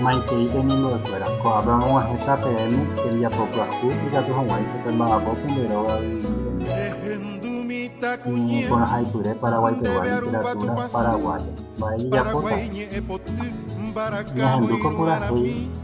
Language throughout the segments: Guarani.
Maitei pemimbo'ekuéra, ko'ápe amog̃uahẽta peẽme tembiapo pyahu ikatu hag̃uáicha pemba'apo pende róga yvyguarére. Iporãhaipyre Paraguái pegua literatúra paraguaya. Mba'e ijapóta? Ñahendúko purahéi.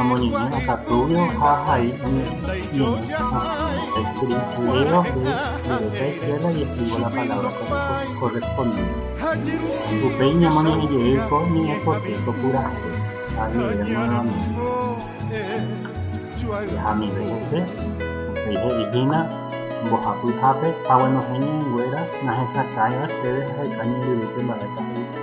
Amoñe'ẽ akatúrõ ha ahai añeteháicha escribívo jepe escuela iescribo la palabra correspondiente. Upéi ñamoñe'ẽ jey ko ñe'ẽpoty topurahépe ha añe'ẽre nuevamente. Jahamive hese, upéi he'i hína mbohapy hápe, Haguenohẽ ñe'ẽnguéra nahesakãiva chéve haheka ñembyrýpe mba'épa he'ise.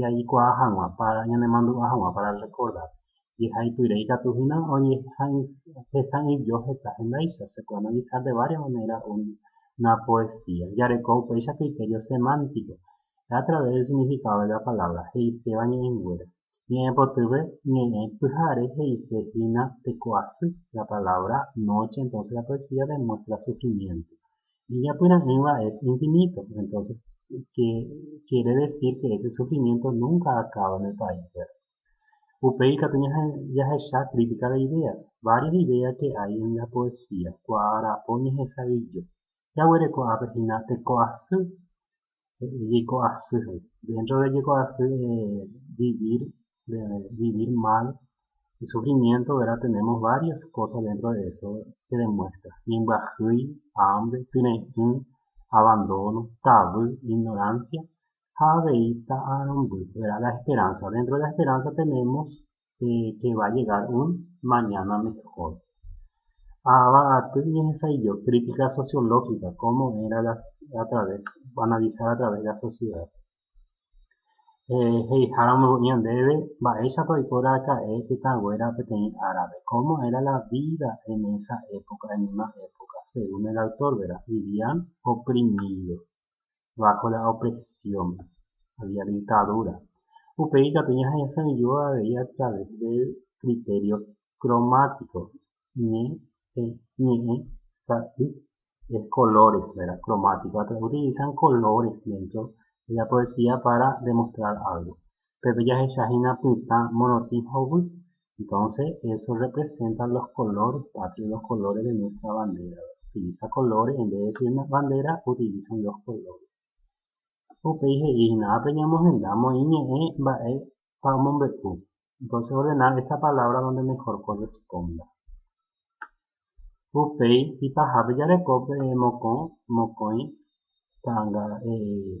jaikuaa hag̃ua, ñanemandu'a hag̃ua para rrekordar. Jehaipyre ikatu hína ohesa'ỹijo heta hendáicha, se puede analizar de varias maneras una poesía. Jareko upéicha criterio semántico, es a través del significado de la palabra he'iséva ñe'ẽnguéra. Ñe'ẽpotyve ñe'ẽ pyhare he'ise hína teko asy, la palabra noche entonces la poesía demuestra sufrimiento. Ijapyra'ỹva es infinito, entonces que quiere decir que ese sufrimiento nunca acaba en el país, ¿verdad? Upéi ikatu jahecha crítica de ideas, varias ideas que hay en la poesía, kuaa'ara'po ñehesa'ỹijo. jaguereko'ápe hína teko'asy, jeiko'asy he'i. Dentro de jeko'asy vivir, de vivir mal, de sufrimiento, ¿verdad? Tenemos varias cosas dentro de eso que demuestra. Ñembyahýi, hambre, tyre'ỹ, abandono, tavy, ignorancia ha avei ta'arõmby, ¿verdad? La esperanza. Dentro de la esperanza tenemos pe che va llegar un mañana mejor. Ava aty ñehesa'ỹijo crítica sociológica, cómo era la a través, analizar a través la sociedad. Eh, he'iháramo ko'íva ndéve, mba'éichapa oiko raka'e tetãnguéra peteĩ árape, cómo era la vida en esa época, en una época, según el autor, vivían oprimidos. bajo la opresión, había dictadura. Upéi katu ñahesaiju avei a través de criterio cromático, ñe, e, ñe'ẽ, sa, y, es colores, ¿verdad? Cromático, utilizan colores dentro de la poesía para demostrar algo. Pépe jahecha hína pytã morotĩ hovy. Entonce eso representa los colores patrios, los colores de nuestra bandera. Utiliza colores en vez de decir bandera, utilizan los colores. Upéi he'i hína, ápe ñamohenda moĩ ñe'ẽ mba'épa omombe'u. Entonces ordenar esta palabra donde mejor corresponda. Upéi ipahápe jareko pe mokõ, mokõi, ta'anga, eh,